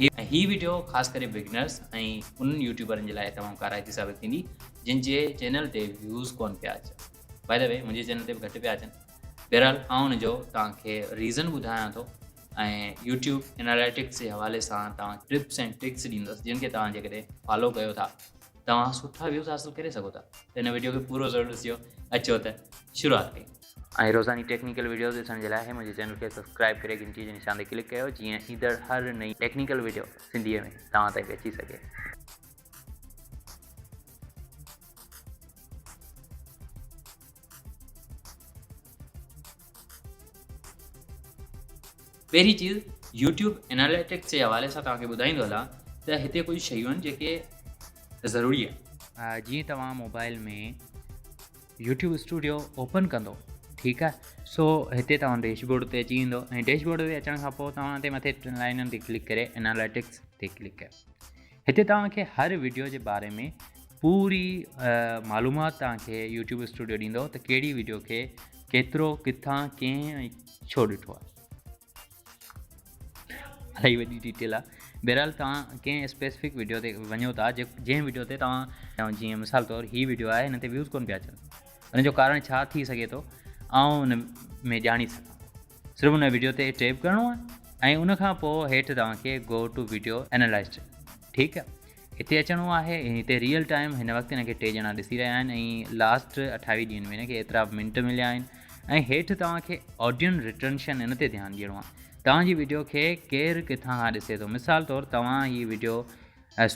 هي video خاص ڪري beginners ۽ انهن يوٽيوبرن جي لاء تمام ڪارائتي ثابت ٿيندي جن جي چينل تي ويوز ڪون پيا اچن باء دي وي منهنجي چينل تي به گهٽ پيا اچن بهرحال آئون ان جو توهان کي ريزن ٻڌايان ٿو ۽ يوٽيوب اناليٽڪس جي حوالي سان توهان ٽپس ۽ ٽرڪس ڏيندس جن کي توهان جيڪڏهن فالو ڪيو ٿا توهان سٺا ويوز حاصل ڪري سگهو ٿا ته هن وڊيو کي پورو ضرور ڏسجو اچو ته شروعات ڪيون ۽ روزاني ٽيڪنيڪل وڊيوز ڏسڻ جي لاء هي منهنجي چينل کي سبسڪرائب ڪري گهنٽي جي نشان تي ڪلڪ ڪيو جيئن ايندڙ هر نئين ٽيڪنيڪل وڊيو سنڌي ۾ توهان تائين پهچي سگهي. پهرين چيز يوٽيوب اناليٽڪس جي حوالي سان توهان کي ٻڌائيندو هلا ته هتي ڪجهه شيون آهن جيڪي ضروري آهن. جيئن توهان موبائل ۾ يوٽيوب اسٽوڊيو اوپن ڪندو ٺيڪ آهي سو هتي توهان ڊيش بورڊ تي اچي ويندو ۽ ڊيش بورڊ تي اچڻ کان پوء توهان هتي مٿي ٽن لائنن تي ڪلڪ ڪري اناليٽڪس تي ڪلڪ ڪيو هتي توهان کي هر ويڊيو جي باري ۾ پوري معلومات توهان کي يوٽيوب اسٽوڊيو ڏيندو ته کي ڪيترو ڪٿان ڪئين ڇو ڏٺو الاهي وڏي ڊيٽيل آ بهرحال توهان ڪنهن اسپيسفڪ ويڊيو تي وڃو ٿا جنهن ويڊيو تي توهان جيئن مثال طور هي ويڊيو آهي هن تي ويوز ڪون پيا اچن ان جو ڪارڻ ڇا ٿي سگهي ٿو آئون ان ۾ ڄاڻي سگهان صرف ان ويڊيو تي ٽيپ ڪرڻو آهي ۽ ان کان پوء هيٺ توهان کي گو ٽو ويڊيو اينالائزر ٺيڪ آهي هتي اچڻو آهي ۽ هتي ريئل ٽائيم هن وقت هن کي ٽي ڄڻا ڏسي رهيا آهن ۽ لاسٽ اٺاويهه ڏينهن ۾ هن کي ايترا منٽ مليا آهن ۽ هيٺ توهان کي آڊين ريٽرنشن ان تي ڌيان ڏيڻو آهي توهان جي ويڊيو کي ڪير ڪٿان کان ڏسي ٿو مثال طور توهان هي ويڊيو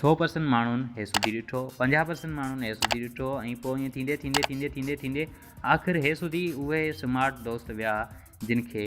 سو پرسنٽ ماڻهن هي سڌي ڏٺو پنجاهه پرسنٽ ماڻهن هي سڌي ڏٺو ۽ پوء ائين ٿيندي ٿيندي ٿيندي ٿيندي ٿيندي آخر هي سڌي اهي سمارٽ دوست ويا جن کي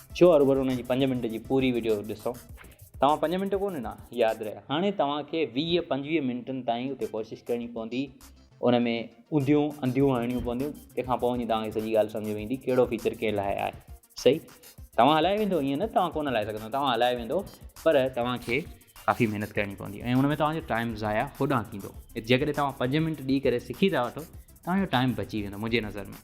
ڇو هروڀرو ان جي پنج منٽ جي پوري وڊيو ڏسو توهان پنج منٽ ڪو ڏنا ياد رهي هاڻي توهان کي ويهه پنجويهه منٽن تائين اتي ڪوشش ڪرڻي پوندي ان ۾ انديون انڌيون هڻڻيون پونديون تنهن کان پوء وڃي توهان کي سڄي ڳالهه سمجھ ويندي ڪهڙو فيچر ڪنهن لاء آهي صحيح توهان هلائي ويندو ائين نه توهان ڪون هلائي سگھندو توهان هلائي ويندو پر توهان کي ڪافي محنت ڪرڻي پوندي ۽ ان ۾ توهان جو ٽائيم ضايع هوڏانهن ٿيندو جيڪڏهن توهان پنج منٽ ڏيئي ڪري سکي ٿا وٺو توهان جو ٽائيم بچي ويندو منهنجي نظر ۾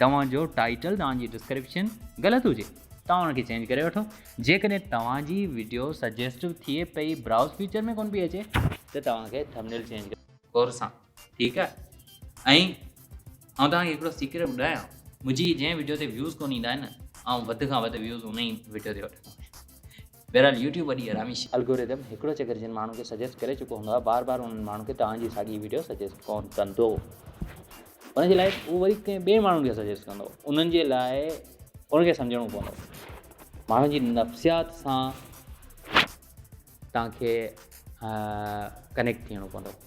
توهان جو ٽائيٽل توهان جي ڊسڪرپشن غلط هجي توهان ان کي چينج ڪري وٺو جيڪڏهن توهان جي وڊيو سجيسٽو ٿئي پئي براوز فيچر ۾ ڪون پئي اچي ته توهان کي ٿمنيل چينج ڪري غور سان ٺيڪ آهي ۽ آئون توهان کي هڪڙو سيڪريٽ ٻڌايان منهنجي جنهن وڊيو تي ويوز ڪون ايندا آهن نه آئون وڌ کان وڌ ويوز ان ئي وڊيو تي وٺندو آهيان بهرحال يوٽيوب وڏي حرامي شي. الگوريدم هڪڙو چڪر جن ماڻهن کي سجيسٽ ڪري چڪو هوندو آهي بار بار انهن ماڻهن کي توهان جي ساڳي ويڊيو سجيسٽ ڪون ڪندو ان جي لاء هو وري ڪنهن ٻئي ماڻهن کي سجيسٽ ڪندو انهن جي لاء ان کي سمجهڻو پوندو ماڻهن جي نفسيات سان توهان کي ڪنيڪٽ ٿيڻو پوندو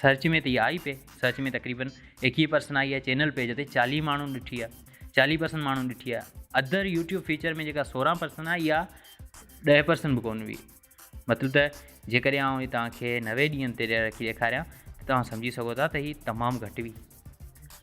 سرچ ۾ ته اها آئي پئي. سرچ ۾ تقريبن ايڪيهه پرسن آئي آهي چينل پيج تي چاليهه ماڻهن ڏٺي آهي. چاليهه پرسن ماڻهن ڏٺي آهي. ادر يوٽيوب فيچر ۾ جيڪا سورهن پرسن آهي اها ڏهه پرسن به ڪونه ويئي. مطلب ته جيڪڏهن آئون هي توهان کي نوي ڏينهن تي رکي ڏيکاريان ته توهان سمجهي سگهو ٿا ته هي تمام گهٽ ويئي.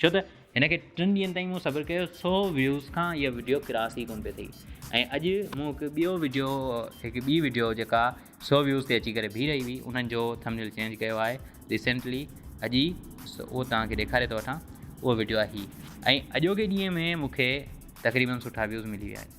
ڇو ته هن کي ٽن ڏينهن تائين مون صبر ڪيو سو ويوز کان اها وڊيو ڪراس ئي ڪون پئي ٿي ۽ اڄ مون هڪ ٻيو وڊيو هڪ ٻي وڊيو جيڪا سو ويوز تي اچي ڪري بيهي رهي هئي انهن جو ٿمنيل چينج ڪيو آهي ريسنٽلي اڄ ئي اهو توهان کي ڏيکاري ٿو وٺان اهو وڊيو آهي هي ۽ اڄوڪي ڏينهن ۾ مون کي تقريبن سٺا ويوز ملي ويا آهن